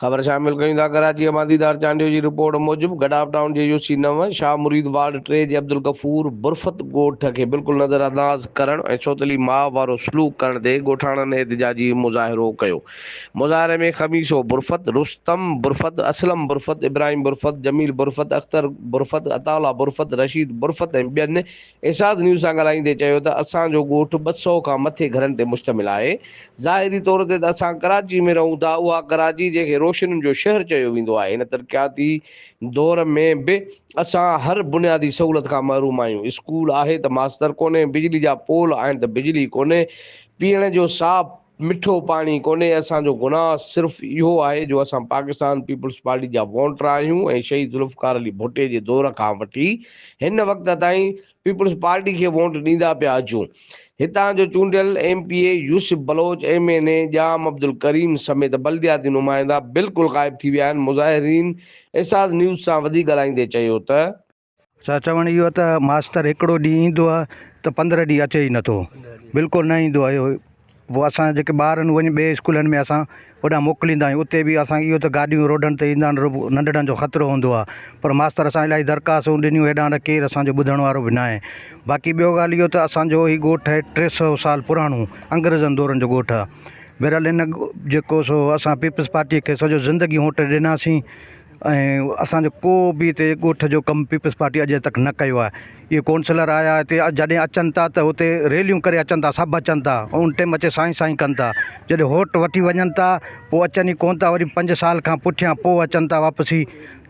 خبر شامل ڪيون ٿا ڪراچيء مان ديدار چانڊيو جي رپورٽ موجب گڊاپ ٽائون جي يو سي نو شاهه مريد وارڊ ٽي جي عبدالغفور برفت ڳوٺ کي بلڪل نظر انداز ڪرڻ ۽ سوتيلي ماء وارو سلوڪ ڪرڻ تي ڳوٺاڻن احتجاجي مظاهرو ڪيو مظاهري ۾ خميسو برفت رستم برفت اسلم برفت ابراهيم برفت جميل برفت اختر برفت عطاء الله برفت رشيد برفت ۽ ٻين اعشاز نيوز سان ڳالهائيندي چيو ته اسان جو ڳوٺ ٻه سؤ کان مٿي گهرن تي مشتمل آهي، ظاهري طور تي ته اسان ڪراچي ۾ رهون ٿا، اها ڪراچي جنهن کي روشنين جو شهر چيو ويندو آهي، هن ترقياتي دور ۾ به اسان هر بنيادي سهولت کان محروم آهيون، اسڪول آهي ته ماستر ڪونهي، بجلي جا پول آهن ته بجلي ڪونهي، پيئڻ جو صاف. مٺو پاڻي ڪونهي اسان جو گناهه صرف اهو آهي جو اسان پاڪستان پيپلز پارٽي جا وونٽر آهيون ۽ شهيد ذوالفقار علي ڀٽي جي دور کان وٺي هن وقت تائين پيپلز پارٽي کي وونٽ ڏيندا پيا اچون هتان جو چونڊيل M P A Yousuf Baloch M N A Jam Abdul Karim سميت بلدياتي نمائندا بلڪل غائب ٿي ويا آهن مظاهرين ايساز نيوز سان وڌي ڳالهائيندي چيو ته سا چوڻ اهو ته ماستر هڪڙو ڏينهن ايندو آهي ته پندرهن ڏينهن اچي ئي نٿو بلڪل نه ايندو آهي پوء اسان جيڪي ٻار آهن وڃي ٻئي اسڪولن ۾ اسان هوڏانهن موڪليندا آهيون اتي به اسان اهو ته گاڏيون روڊن تي ايندا آهن ننڍڙن جو خطرو هوندو آهي پر ماستر اسان الاهي درخواستون ڏنيون هيڏانهن ته ڪير اسان جو ٻڌڻ وارو به ناهي باقي ٻيو ڳالهه اهو ته اسانجو هي ڳوٺ آهي ٽي سو سال پراڻو انگريزن دورن جو ڳوٺ آهي بهرحال هن جيڪو سو اسان پيپلز پارٽي کي سڄو زندگي ووٽ ڏناسين ۽ اسان جو ڪو به هتي ڳوٺ جو ڪم پيپلز پارٽي اڄ تڪ نه ڪيو آهي اهي ڪونسلر آيا هتي جڏهن اچن ٿا ته هتي ريليون ڪري اچن ٿا سڀ اچن ٿا ان ٽيم اچي سائين سائين ڪن ٿا جڏهن ووٽ وٺي وڃن ٿا پوء اچن ئي ڪون ٿا وري پنج سال کان پٺيان پوء اچن ٿا واپسي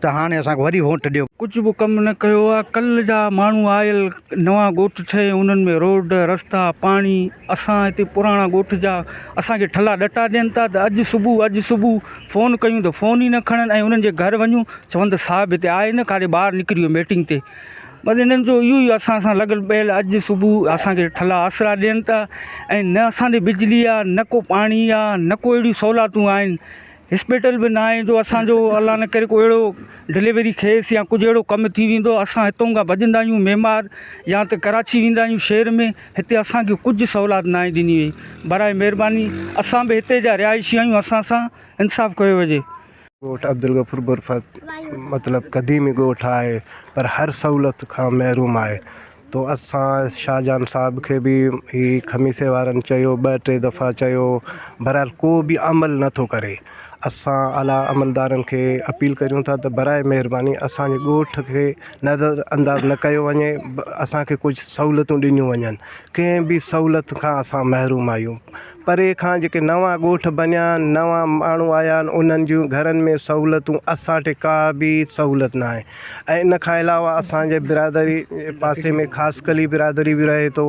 ته هاڻي اسان کي وري ووٽ ڏيو ڪجهه به ڪم نه ڪيو آهي ڪلهه جا ماڻهو آيل نوان ڳوٺ ٺهي انهن ۾ روڊ رستا پاڻي اسان هتي پراڻا ڳوٺ جا اسان کي ٺلا ڏٽا ڏين ٿا ته اڄ صبح اڄ صبح فون ڪيون ته فون ئي نه کڻن ۽ انهن جي گهر وڃون چون ته صاحب هتي آهي نه ڪاڏي ٻاهر نڪري ويو ميٽنگ تي بس انهن جو اهو ئي اسان سان لڳل پيل اڄ صبح اسان کي ٺلا آسرا ڏين ٿا ۽ نه اسان ڏي بجلي آهي نه ڪو پاڻي آهي نه ڪو اهڙيون سهولاتون آهن اسپيٽل به نه آهي جو اسانجو الله نه ڪري ڪو اهڙو ڊليوري کيس يا ڪجهه اهڙو ڪم ٿي ويندو اسان هتون کان ڀڄندا آهيون ميمار يا ته ڪراچي ويندا آهيون شهر ۾ هتي اسان کي ڪجهه سهولات ناهي ڏني وئي براء مهرباني اسان به هتي جا رهائشي آهيون اسان سان انصاف ڪيو وجهي. ڳوٺ عبدالغفور برفت مطلب قديمي ڳوٺ آهي پر هر سهولت کان محروم آهي تو اسان شاهجهان صاحب کي به هي خميسي وارن چيو ٻه ٽي دفعا چيو بهرحال ڪو به عمل نٿو ڪري اسان اعليٰ عملدارن کي اپيل ڪريون ٿا ته برائي مهرباني اسانجي ڳوٺ کي نظر انداز نه ڪيو وڃي اسانکي ڪجهه سهولتون ڏنيون وڃن ڪنهن به سهولت کان اسان محروم آهيون پري کان جيڪي نوان ڳوٺ بنيا آهن نوان ماڻهو آيا آهن انهن جون گهرن ۾ سهولتون اسانٽي ڪا به سهولت ناهي ۽ ان کان علاوه اسانجي برادري پاسي ۾ خاص ڪلي برادري به رهي ٿو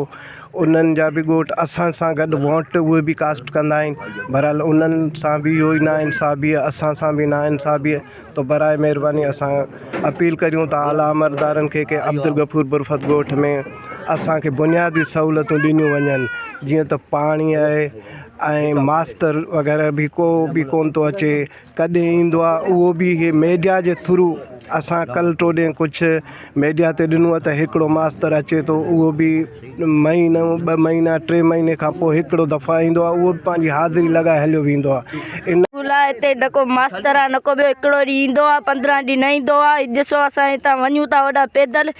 انهن جا به ڳوٺ اسان سان گڏ ووٽ اهي به ڪاسٽ ڪندا آهن بهرحال انهن سان به اهو ئي ناانصافي آهي اسان سان به ناانصافي آهي تو برائي مهرباني اسان اپيل ڪريون ٿا اعليٰ عملدارن کي ڪي عبدالغفور برفت ڳوٺ ۾ اسانکي بنيادي سهولتون ڏنيون وڃن جيئن ته پاڻي آهي ۽ ماستر وغيره به ڪو به ڪونه ٿو اچي ڪڏهن ايندو آ اهو به هي ميڊيا جي ٿرو اسان ڪل ٽو ڏينهن ڪجهه ميڊيا تي ڏنو آ ته هڪڙو ماستر اچي ٿو اهو به مهينو ٻه مهينا ٽي مهيني کان پوء هڪڙو دفعا ايندو آ اهو به پنهنجي حاضري لڳائي هليو ويندو آ ان اسڪول آ هتي نه ڪو ماستر آ نه ڪو ٻيو هڪڙو ڏينهن ايندو آ پندرهن ڏينهن نه ايندو آ هي ڏسو اسان هتان وڃون ٿا هوڏا پيدل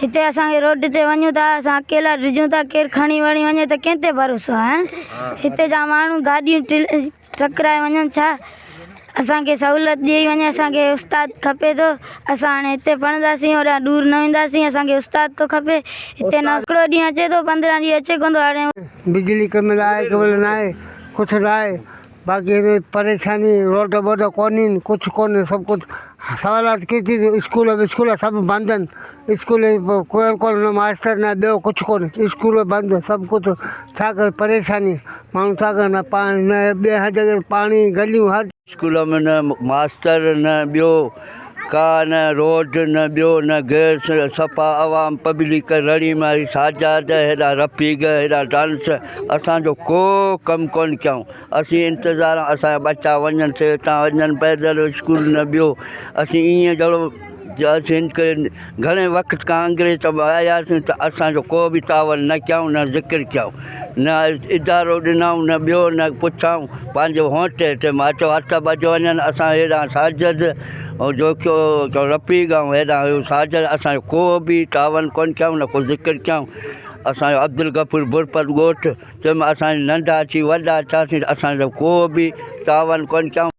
هتي اسان کي روڊ تي وڃون ٿا اسان اڪيلا ڊڄون ٿا ڪير کڻي وڻي وڃي ته ڪنهن تي ڀروسو آهي هتي جا ماڻهو گاڏيون ٽڪرائي وڃن ڇا اسان کي سهولت ڏئي وڃي اسان کي استاد کپي ٿو اسان هاڻي هتي پڙهنداسين هوڏانهن ڏور نه وينداسين اسان کي استاد ٿو کپي هتي نه هڪڙو ڏينهن اچي ٿو پندرهن ڏينهن اچي ڪونه ٿو هاڻي بجلي ڪم لاء ڪيبل ناهي ڪٿ لاء باقي هن جي پريشاني روڊ ٻوڊ ڪونهي آهن ڪڇ ڪونهي سڀ ڪڇ سوالات ڪي ٿي اسڪول وسڪول سڀ بند آهن اسڪول ۾ ڪوئر ڪونهي نه ماستر نه ٻيو ڪڇ ڪونهي اسڪول بند سڀ ڪڇ ڇا ڪري پريشاني ماڻهو ڇا ڪري نه پاڻي نه ٻيا هر جڳهه پاڻي گليون هر اسڪول ۾ نه ماستر نه ٻيو ڪا نه روڊ نه ٻيو نه گئس صفا عوام پبلڪ رڙي ماري ساجاد هيڏا رفيق هيڏا ڊانس اسان جو ڪو ڪم ڪون ڪيائون اسين انتظار اسان جا ٻچا وڃن سي تان وڃن پيدل اسڪول نه ٻيو اسين ايئن جهڙو جا سين ڪين گهڻي وقت کان انگريز سڀ آياسين ته اسان جو ڪو به تعاون نه ڪيائون نه ذڪر ڪيائون نه ادارو ڏنائون نه ٻيو نه پڇائون پنهنجي هونٽ هيٺ مان اچو هٿ سڀ اچ وڃن اسان هيڏانهن ساجد ۽ جوکيو چو رفيق ۽ هيڏانهن هيو ساجد اسان جو ڪو به تعاون ڪونه ڪيائون نه ڪو ذڪر ڪيائون اسان جو عبدالغفور برپت ڳوٺ تنهن مان اسان جي ننڍا اچي وڏا ٿياسين اسان جو ڪو به تعاون ڪونه ڪيائون